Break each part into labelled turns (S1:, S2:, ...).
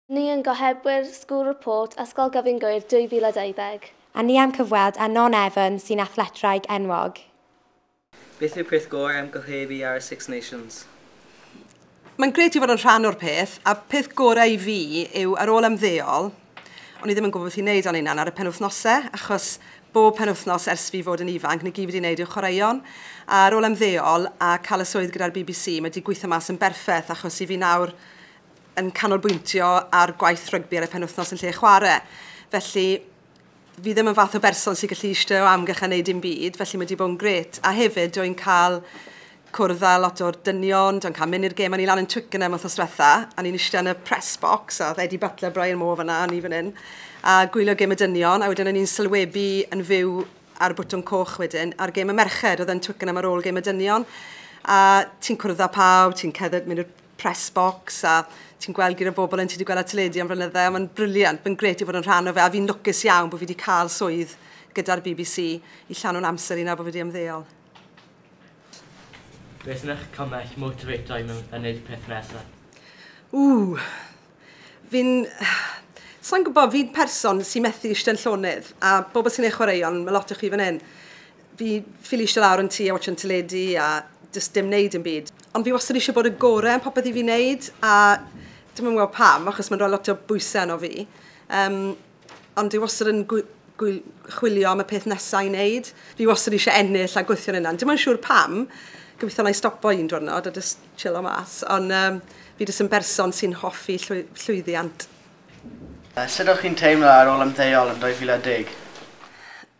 S1: Ni yn gohebwyr School Report Ysgol Gyfun Gŵyr 2020. A ni am cyfweld
S2: â Non Evans sy'n athletwraig enwog.
S3: Beth yw'r peth gorau am gohebu ar y Six Nations?
S4: Mae'n grêt i fod yn rhan o'r peth, a peth gorau i fi yw ar ôl ymddeol, o'n i ddim yn gwybod beth i wneud â'n hunan ar y penwythnosau, achos bob penwythnos ers fi fod yn ifanc, 'na gyd fi 'di wneud yw chwaraeon, a ar ôl ymddeol a cael y swydd gyda'r bbc, mae 'di gweithio mas yn berffeth, achos i fi nawr, yn canolbwyntio ar gwaith rygbi ar y penwythnos yn lle chwarae. Felly, fi ddim yn fath o berson sy'n gallu eistedd o amgylch a wneud dim byd, felly mae wedi bod yn gret. A hefyd, dwi'n cael cwrdd â lot o'r dynion, dwi'n cael mynd i'r gêm, o'n i lan yn Twickenham wrth osretha, a ni'n eistedd yn y press box, a oedd Eddie Butler, Brian Moore fyna, a ni fan hyn, a gwylio gêm y dynion, a wedyn o'n i'n sylwebu yn fyw ar bwtwm coch wedyn, ar gêm y merched, oedd yn Twickenham ar ôl gêm y dynion, a ti'n cwrdd â pawb, ti'n ceddydd, mynd i'r press box a ti'n gweld gyda bobl yn ti wedi gweld ar teledu am flynydde a mae'n briliant, mae'n gret i fod yn rhan o fe a fi'n lwcus iawn bod fi wedi cael swydd gyda'r BBC i llanw'n amser i nawr bod fi wedi ymddeol.
S5: Beth yn eich cymell motivatio i yn wneud peth nesaf? Ww! Fi'n...
S4: sa i'n gwybod, fi'n person sy'n methu eistedd yn llonydd, a bobl sy'n ei chwaraeon, mae lot o chi fan hyn, fi ffili eistedd lawr yn tŷ a watsio'n teledu a jyst dim wneud dim byd. Ond fi wastad eisiau bod y gorau yn popeth i fi'n wneud, a dwi'm yn gwybod pam, achos mae'n rhoi lot o bwysau arno fi. Yym... Ond dwi wastad yn gwy- gwy- chwilio am y peth nesa i wneud. Fi wastad eisiau ennill a gweithio'n yna. Dim ond siŵr pam. Gobeithio na i stopo un diwrnod a just chillo mas. Ond um, fi jyst yn berson sy'n hoffi llwy- llwyddiant.
S6: Sut o'ch chi'n teimlo ar ôl ymddeol yn 2010?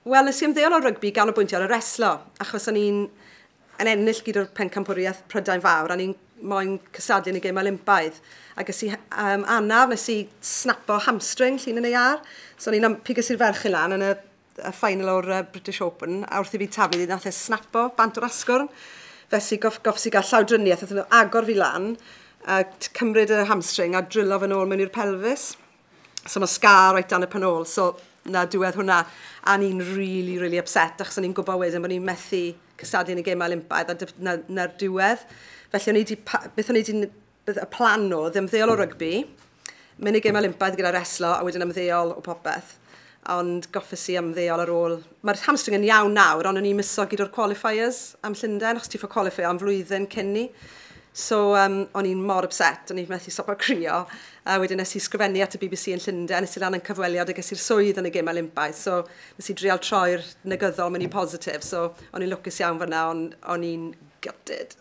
S4: Wel, nes i ymddeol o rygbi i ganolbwyntio ar y reslo, achos o'n i'n yn ennill gyd o'r Pencampwriaeth Prydain Fawr, a o'n i'n moyn cystadlu yn y Gemau Olympaidd. A ges i um, anaf, nes i snapo hamstring llun yn ei ar. So o'n i'n ympu ges i'r ferch i lan yn y, y final o'r uh, British Open, a wrth i fi taflu ddi, nath e snapo bant o'r asgwrn. Fes i gof, gofs i gael llawdriniaeth, oedd nhw agor fi lan, a cymryd y hamstring a drillo fy nôl mewn i'r pelfis. So mae scar reit dan y pen ôl. So na diwedd hwnna. A ni'n really, really upset, achos o'n i'n gwybod wedyn bod ni'n methu cystadlu yn y gemau Olympaidd a na'r na, diwedd. Felly o'n i wedi, beth o'n i wedi, y plan o, ddim ddeol o rygbi, mynd i gemau Olympaidd gyda reslo a wedyn ymddeol o popeth. ond goffes i ymddeol ar ôl. Mae'r hamstring yn iawn nawr, ond o'n i'n miso gyd o'r qualifiers am Llundain, achos ti'n ffordd qualifio am flwyddyn cyn ni. So, um, o'n i'n mor upset, o'n i'n methu stopo crio. A wedyn nes i sgrifennu at y BBC yn Llundain, nes i lan yn cyfweliad a ges i'r swydd yn y gym Olympaidd. So, nes i drial troi'r negyddol mynd i positif. So, o'n i'n lwcus iawn fyna, ond o'n i'n gutted.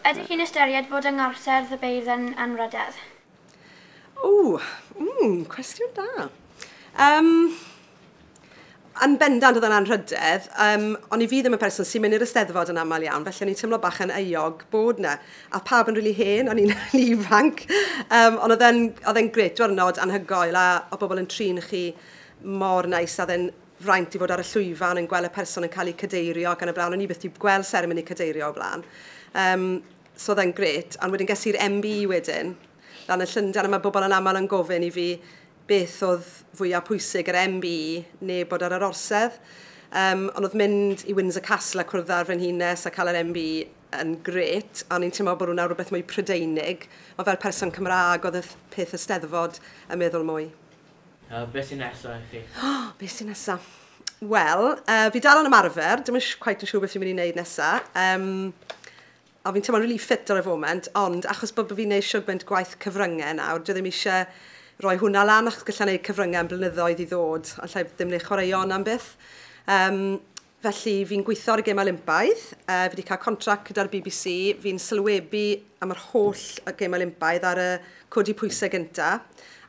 S7: Ydych chi'n ystyried bod yng Ngorsedd y Beirdd yn anrhydedd? O!
S4: Mm! Cwestiwn da. Yym, yn bendant, oedd e'n anrhydedd. Yym, o'n i fi ddim yn person sy'n mynd i'r Eisteddfod yn aml iawn, felly o'n i'n teimlo bach yn euog bod 'na. A oedd pawb yn rili hen, o'n i'n rili ifanc. Yym, ond oedd e'n oedd e'n grêt, diwrnod anhygoel, a oedd pobl yn trin chi mor neis, a oedd e'n fraint i fod ar y llwyfan yn gweld y person yn cael eu cadeirio ac yn y blaen. O'n i byth 'di gweld seremoni cadeirio o'r blaen. Yym... So oedd e'n grêt. Ond wedyn ges i'r MB wedyn, lan yn Llundain, a mae bobl yn aml yn gofyn i fi beth oedd fwyaf pwysig, yr MB neu bod ar yr orsedd. Um, ond oedd mynd i Windsor Castle a cwrdd â'r frenhines a cael yr MB yn gret, a ni'n teimlo bod hwnna rhywbeth mwy Prydeinig, ond fel person Cymraeg oedd y peth y steddfod yn meddwl mwy. Uh, beth sy'n
S5: nesaf i chi? Oh, beth sy'n nesaf?
S4: Wel, uh, fi dal yn ymarfer, dim yn cweit yn siŵr beth fi'n mynd i wneud nesaf. Um, O fi'n teimlo'n rili ffit ar y foment ond achos bod fi'n neud siwgment gwaith cyfrynge nawr dwi ddim isie roi hwnna lan achos galla neud cyfrynge am blynyddoedd i ddod ond llai ddim le chwaraeon yna am byth. Yym felly fi'n gweithio ar y gêm Olympaidd, yy fi 'di cael contract gyda'r bbc, fi'n sylwebu am yr holl y gêm Olympaidd ar y codi pwysau gynta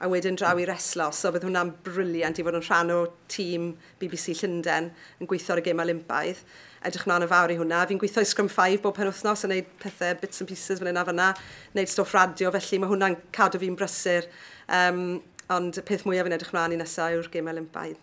S4: a wedyn draw i reslo so bydd hwnna'n briliant i fod yn rhan o tîm bbc Llundain yn gweithio ar y gemau Olympaidd. Edrych mlaen yn fawr i hwnna. Fi'n gweithio i Scrum Five bob penwythnos yn wneud pethau bits and pieces fan hyn a fanna, wneud stwff radio, felly mae hwnna'n cadw fi'n brysur. Um, ond y peth mwyaf fi'n edrych mlaen i nesaf yw'r gemau Olympaidd.